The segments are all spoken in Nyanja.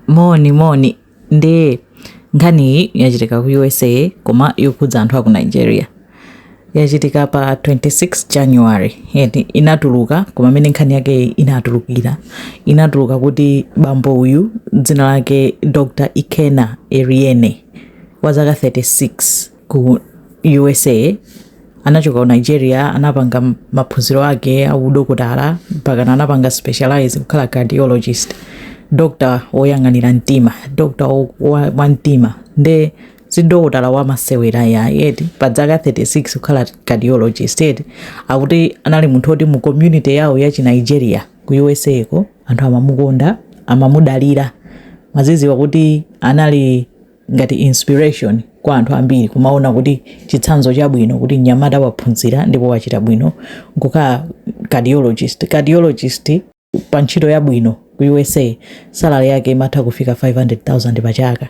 moni moni nde nkhaniyi yachitika ku usa koma yokhudza anthu aku nigeria yachitika pa 26 january eti inatuluka koma mmene nkhani yake inatulukira inatuluka kuti bambo uyu dzina lake dr ikena eriene wa zaka 36 ku usa anachoka ku nigeria anapanga m- maphunziro ake audokotala mpakana anapanga specialize kukhala cardiologist dokta woyang'anira mtima dokta wo- wa wa mtima nde si dokotala wamasewera ayi eti pa dzaka 36 kukhala cardiologist eti akuti anali munthu woti mu community yawo ya chinigeria ku usako anthu amamukonda amamudalira maziziwa kuti anali ngati inspiration kwa anthu ambiri kumaona kuti chitsanzo chabwino kuti mnyamata waphunzira ndipo wachita bwino nkukhala cardiologist cardiologist pa ntchito yabwino ku usa salary yake imatha kufika 500000 pa chaka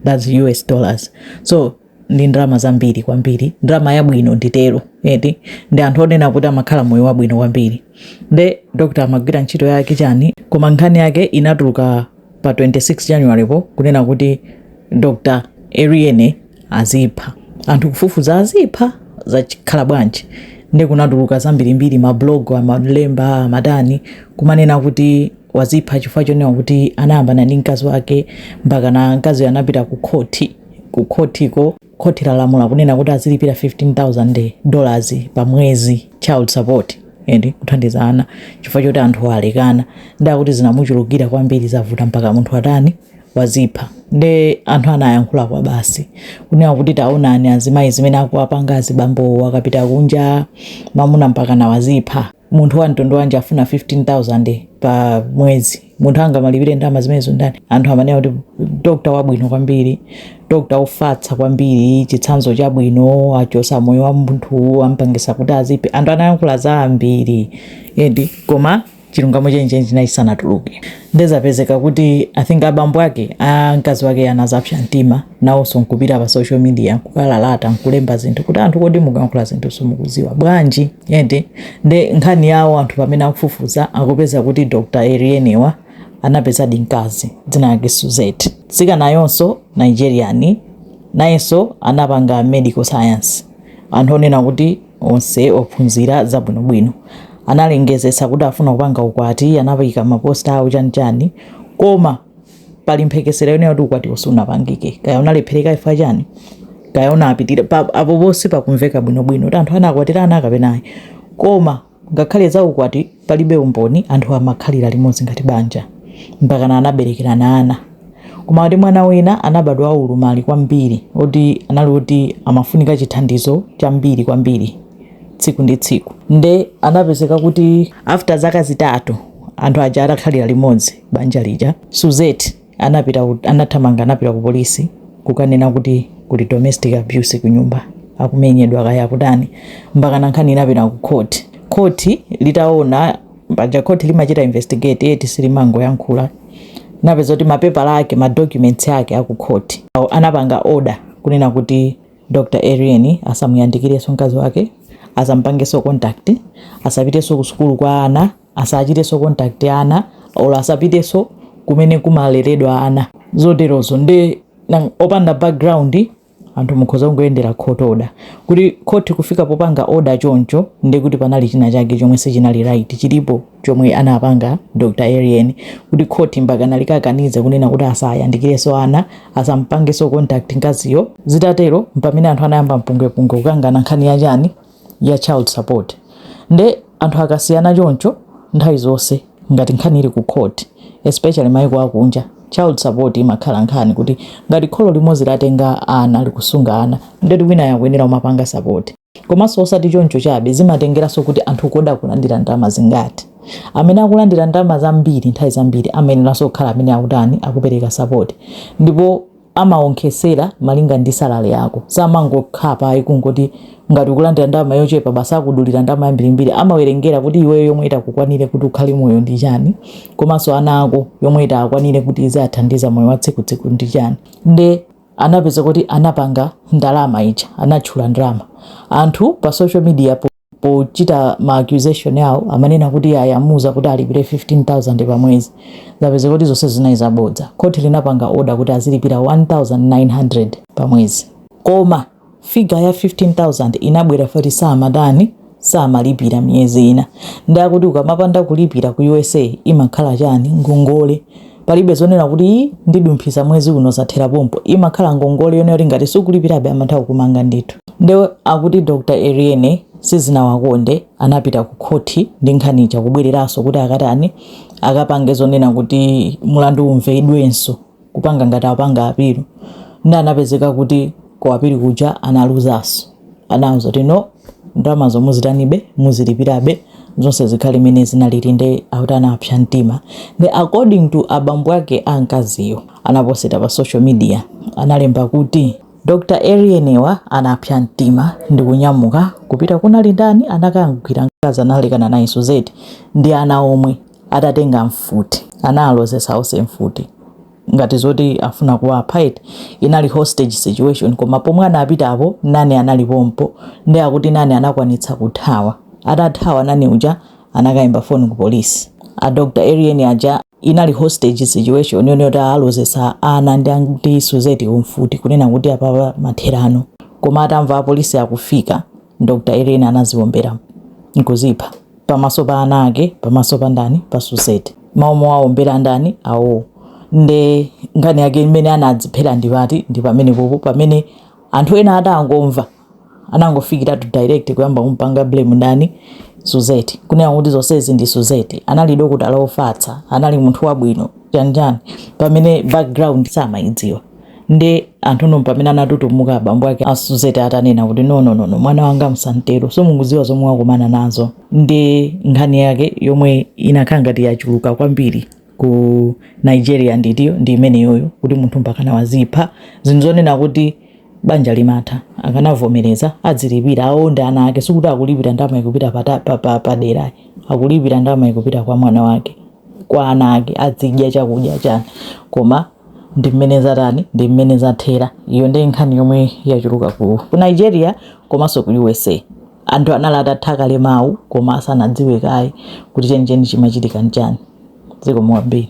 thats us dollars so ndi ndalama zambiri kwambiri ndalama yabwino nditero eti ndi anthu onena kuti amakhala moyo wabwino kwambiri nde dr amagwira ntchito yake chani koma nkhani yake inatuluka pa 26 January po kunena kuti Dr. Eriene azipha anthu kufufuza azipha zakhala bwanji nde kunatuluka zambirimbiri mablog amalemba amatani kumanena kuti wazipha chifukwa chonena kuti anayambana ndi mkazi wake mpakana mkaziyo anapita ku khoti ku khotiko Khoti lalamula kunena kuti azilipira 15,000 dollars pa mwezi child support eti kuthandiza ana chifukwa choti anthu alekana nde akuti zinamuchulukira kwambiri zavuta mpaka munthu atani wazipha nde anthu anayankhula kwabasi kunena kuti taonani azimayi zimene akuwapanga azibambowo akapita kunja mamuna mpakana wazipha munthu wa mtundu wanji afuna 15000 pa mwezi munthu angamalipire ndalama zimenezo ndani anthu amanena kuti dokta wabwino kwambiri dokta ofatsa kwambiri chitsanzo chabwino achosa moyo wa munthu ampangisa kuti aziphe anthu anayankhula zambiri eti koma chilungamo chenicheni chinali chisanatuluke nde zapezeka kuti i think abambo ake a mkazi wake anazapsa mtima nawonso nkupita pa social media nkukalalata nkulemba zinthu kuti anthu kodi mukankhula zinthu simukuziwa bwanji eti nde nkhani yawo anthu pamene akufufuza akupeza kuti dr erienewa anapezadi mkazi dzina lake suzette mtsikanayonso nigerian nayenso anapanga medical science anthu onena kuti onse ophunzira zabwinobwino analengezesa kuti afuna kupanga ukwati anaika maposta awo chanichani koma pali mphekesera yonena kuti ukwatiwo sunapangike kaya unalephereka chifukwa chani kaya unapitira apo ponse pakumveka bwinobwino kuti anthu anakwatirana kapena ayi koma ngakhale za ukwati palibe umboni anthu amakhalira limodzi ngati banja mpakana anaberekerana ana koma kuti mwana wina anabadwa waulumali kwambiri oti anali kuti amafunika chithandizo chambiri kwambiri tsiku ndi tsiku nde anapezeka kuti after zaka zitatu anthu aja atakhalira limodzi banja lija. Suzette anapita ku- anathamanga anapita ku polisi kukanena kuti kuli domestic abuse ku nyumba akumenyedwa kaya akutani mpakana nkhani inapita ku court court litaona paja court limachita investigate eti silimangoyankhula napeza kuti mapepala ake madocuments ake aku court anapanga order kunena kuti dr arian asamuyandikirenso mkazi wake asampangenso contact asapitenso ku sukulu kwa ana asachitenso contact ana or asapitenso kumene kumaleredwa ana zoterozo nde nang- opanda background anthu mukhoza kungoyendera court order kuti court kufika popanga order choncho nde kuti panali china chake chomwe sichinali right chilipo chomwe anapanga dr arian kuti court mpaka nalikakaniza kunena kuti asayandikirenso ana asampangenso contact mkaziyo zitatero mpamene anthu anayamba mpungwepungwe kukangana nkhani yachani ya child support nde anthu akasiyana choncho nthawi zonse ngati nkhani ili ku court especially maiko akunja child support imakhala nkhani kuti ngati kholo limodzi latenga ana likusunga ana ndeti wina akuyenera kumapanga support komanso osati choncho chabe zimatengeranso kuti anthu kodi akulandira ndalama zingati amene akulandira ndalama zambiri nthawi zambiri amayeneranso kukhala amene akutani akupereka support ndipo amaonkhesera malinga ndi salary yako samangokhapa ayi kungoti ngati ukulandira ndalama yochepa basi akudulira ndalama yambirimbiri amawerengera kuti iweyo yomwe itakukwanire kuti ukhale moyo ndi chani komanso ana ako yomwe itakwanire kuti izathandiza moyo wa tsiku tsiku ndi chani nde anapeza kuti anapanga ndalama ija anatchula ndalama anthu pa social media po pochita ma accusation awo amanena kuti iyayi amuuza kuti alipire 15000 pa mwezi zapezeka kuti zonse zinali zabodza khoti linapanga order kuti azilipira 1900 pa mwezi koma figure ya 15000 inabwera foti samatani samalipira miyezi ina nde akuti ukamapanda kulipira ku usa imakhala chani ngongole palibe zonena kuti ndidumphisa mwezi uno zathera pompo imakhala ngongole yone yoti ngati sukulipirabe amantha kukumanga ndithu nde akuti dr eriene sizinawakonde anapita ku khoti ndi nkhani ija kubwereranso kuti akatani akapange zonena kuti mulandu umvedwenso kupanga ngati apanga apilu nde anapezeka kuti ku apilu kuja analuzanso anauza kuti no ndalamazo muzitanibe muzilipirabe zonse zikhale mmene zinalili nde akuti anapsa mtima nde according to abambo ake a mkaziyo anaposita pa social media analemba kuti dr eriene wa anapsa mtima ndi kunyamuka kupita kunali nani anakagwira mkazi analekana naye Suzette ndi ana omwe atatenga mfuti analozesa onse mfuti ngati zoti afuna kuwapha eti inali hostage situation koma pomwe anapita apo nanny anali pompo ndi akuti nanny anakwanitsa kuthawa atathawa nanny uja anakayimba foni ku polisi a dr eriene aja inali hostage situation yonse yoti alozesa ana ndi ndi Suzette kumfuti kunena kuti apapa mathero ano koma atamva apolisi akufika dr eriene anaziwombera nkuzipha pamaso pa ana ake pamaso pa ndani pa Suzette mao mowawombera ndani awo nde nkhani yake imene anadziphera ndipa ndi pamene popo pamene anthu ena atangomva anangofikiratu direct kuyamba kumpanga blame ndani Suzette kunena kuti zonsezi ndi Suzette anali dokotala ofatsa anali munthu wabwino chanichani pamene background samayidziwa nde anthuno mpamene anatutumuka abambo ake a Suzette atanena kuti nononono mwana wanga musamtero simukuziwa zomwe wakumana nazo nde nkhani yake yomwe inakhala ngati yachuluka kwambiri ku nigeria ndi iyo ndi imeneyoyo kuti munthu mpakana wazipha zoti zonena kuti banja limatha akanavomereza adzilipira awo ndi ana ake sikuti akulipira ndama ikupita padera pa, pa, pa akulipira ndama ikupita kwa mwana wake kwa ana ake adzidya chakudya chani koma ndi mmene zatani ndi mmene zathera iyo ndi nkhani yomwe yachuluka ku ku nigeria komanso ku usa anthu anali atatha kale mawu koma asanadziwe kaye kuti chenicheni chimachitika nchani zikomo kwambiri